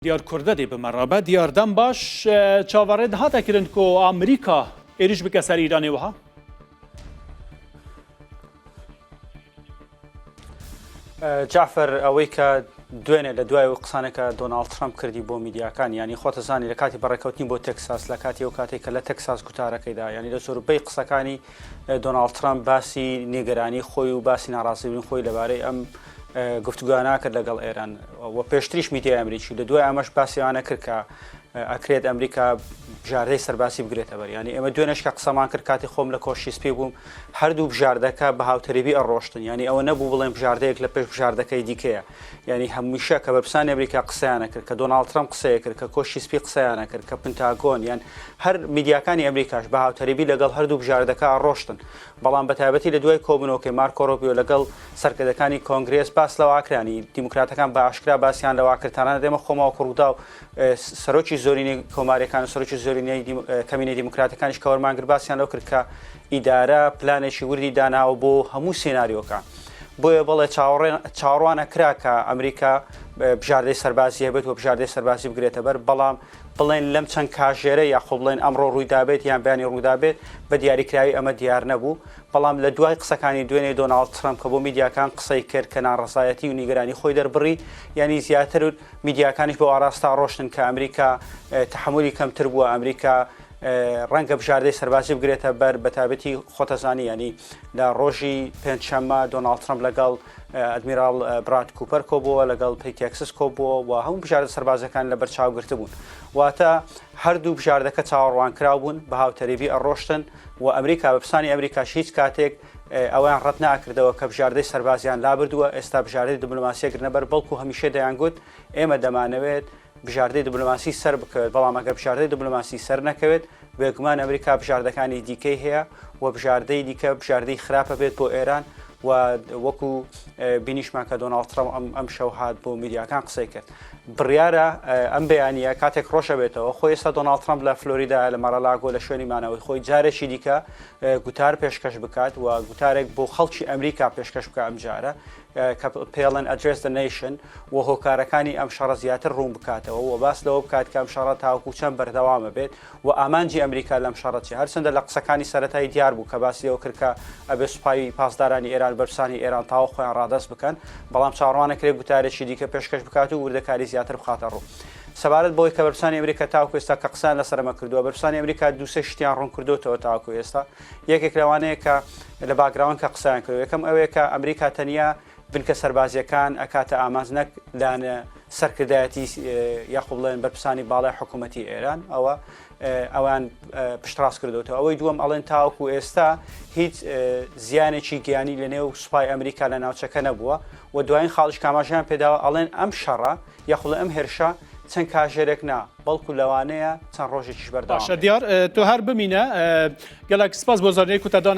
دیار کوردە دێ بمە ڕابە دیار دەم باش چاوەڕێ دهاتە کرن کۆ ئامریکا ئێریش بکە سەر ئیرانێ وەها. جعفر ئەوەی کە دوێنێ لە دوای و قسانەکە دۆناالد ترامپ کردی بۆ میدیاکان ینی خۆتەزانی لە کاتی بەڕێکەوتنی بۆ تەکساس لە کاتی و کاتێک کە لە تەکساس گوتارەکەیدا ینی لە سۆروپەی قسەکانی دۆناڵد ترەمپ باسی نیگەرانی خۆی و باسی ناڕاستیبوونی خۆی لەبارەی ئەم گفتوگویان ناکرد لەگەڵ ئێران و پێشتریش میدیای ئەمریکی لە دوای ئەمەش باسیوانە کرد کە ئەکرێت ئەمریکا بژاردەی سەرباسی بگرێتە بەر ینی ئێمە دوێنش کە قسەمان کرد کاتی خۆم لە کۆشی سپی بووم هەردوو بژاردەکە بە هاوتەریبی ئەڕۆشتن ینی ئەوە نەبوو بڵێن بژاردەیەک لە پێش بژاردەکەی دیکەیە یانی هەمیشە کە بەرپرسانی ئەمریکا قسەیان ئەکرد، کە دۆناڵد ترەمپ قسەی ئەکرد، کە کۆشکی سپی قسەیان ئەکرد، کە پنتاگۆن یان هەر میدیاکانی ئەمریکاش بە هاوتەریبی لەگەڵ هەردوو بژاردەکە ئەڕۆشتن، بەڵام بە تایبەتی لە دوای کۆبوونەوەکەی مارکۆ ڕۆبیۆ لەگەڵ سەرکردەکانی کۆنگرێس باس لەوە ئەکرا یانی دیموکراتەکان بە ئاشکرا باسیان لەوە ئەکرد تەنانەت ئێمە خۆمان وەکوو ڕووداو سەرۆکی زۆرینەی کۆماریەکان و سەرۆکی زۆرینەی کەمینەی دیموکراتەکانیش کە وەرمانگر باسیان لەو کرد کە ئیدارە پلانێکی وردی داناوە بۆ هەموو سێناریۆکان بۆیە بەڵێ چاڕوان ئەکرا کە ئەمریکا بژاردەی سەربازی هەبێت و بژاردەی سەربازی بگرێتە بەر بەڵام بڵێن لەم چەند کاژێرە یاخۆ بڵێن ئەمڕۆ ڕوویدابێت یان بەیانی ڕوودابێت بە دیاریکراوی ئەمە دیار نەبوو بەڵام لە دوای قسەکانی دوێنێ دۆناالد ترمپ کە بۆ میدیاکان قسەی کرد کە ناڕزایەتی و نیگەرانی خۆی دەربڕی ینی زیاتر میدیاکانیش بەو ئاراستە ڕۆشتن کە ئەمریکا تەحەمولی کەمتر بووە، ئەمریکا ڕەنگە بژاردەی سەربازی بگرێتە بەر بە تابەتی خۆتەزانی ینی لە ڕۆژی پێنجشەممە دۆناڵ ترمپ لەگەڵ ئەدمیراڵ براد کوپەر کۆبووە لەگەڵ پێی تێکسس کۆبووە و هەموو بژاردە سەربازەکان لە بەرچاوگررت بوون واتە هەردوو بژاردەکە چاوەڕوان کرا بوون بە هاوتەریبی ئەڕۆشتن و ئەمریکا بە پسانی ئەمریکاش هیچ کاتێک ئەوەیان ڕەت ناکردەوە کە بژاردەی سەربازیان لابردووە، ئێستا بژاردەی دبلۆماسییە گرنە بەر، بەڵکو هەمیشە دەیانگوت ئێمە دەمانەوێت بژاردەی دبلۆماسی سەر بکەوێت، بەڵام ئەگەر بژاردەی دبلۆماسی سەر نەکەوێت، بێگومان ئەمریکا بژاردەکانی دیکەی هەیە و بژاردەی دیکە بژاردەی خراپە بێت بۆ ئێران و وەکو بینیشمان کە دۆناڵد ترەمپ ئەم ئەم شەو هات بۆ میدیاکان قسەی کرد بڕیارە ئەم بەیانە کاتێک ڕۆژەبێتەوە خۆی ئێستا دۆناڵد ترەمپ لە فلۆریدا لە مەڕەلاگۆ لە شوێنی مانەوەی خۆی جارێکی دیکە گوتار پێشکەش بکات و گوتارێک بۆ خەڵکی ئەمریکا پێشکەش بکە ئەم جارە کە پێڵەن ئەدرێس دە نەیشن و هۆکارەکانی ئەم شەڕە زیاتر ڕوون بکاتەوە و باس لەوە بکات کە ئەم شەڕە تاوکو چەند بەردەوامە بێت و ئامانجی ئەمریکا لەم شەڕەتی هەرچەندە لە قسەکانی سەتای دیار بوو کە باسی لەوە کردکە ئەبێ سوپاوی پاسدارانی ئێران بەرسانی ئێران تاوە خۆیان ڕادەست بکەن بەڵام چاڕوانەکرێ گوتارێکی دیکە پێشکەش بکات و وردەکاری زیاتر بخاتە ڕوو. سەبارەت بەوەی کە بەرپرسانی ئەمریکا تاوەکو ئێستا کە قسان لەسەر ئەمە کردووە بەرپرسانی ئەمریکا دووسێ شتیان ڕوونکردوتەوە تاوەکو ئێستا یەکێک لەوانەیە کە لە باگراون کە قسەیان کرد یەکەم ئەوەیە کە ئەمریکا تەنیا بنکە سەربازیەکان ئەکاتە ئامانج نەک لانە سەرکردایەتی یاخۆ بڵێن بەرپرسانی باڵای حکوومەتی ئێران ئەوە ئەوان پشتڕاست کردوەوە ئەوەی دووەم ئەڵێن تاوەکو ئێستا هیچ زیانێکی گیانی لە نێو سوپای ئەمریکا لە ناوچەکە نەبووە و دوایین خاڵش کاماژیان پێداوە ئەڵێن ئەم شەڕە یەخوا ئەم هێرشە چەند کاژێرێک نا، بەڵکو لەوانەیە چەند ڕۆژێکیش بەردەوام بێت. باشە دیار، تۆ هەر بمینە. گەلەک سپاس بۆ زانیاری کوتادان.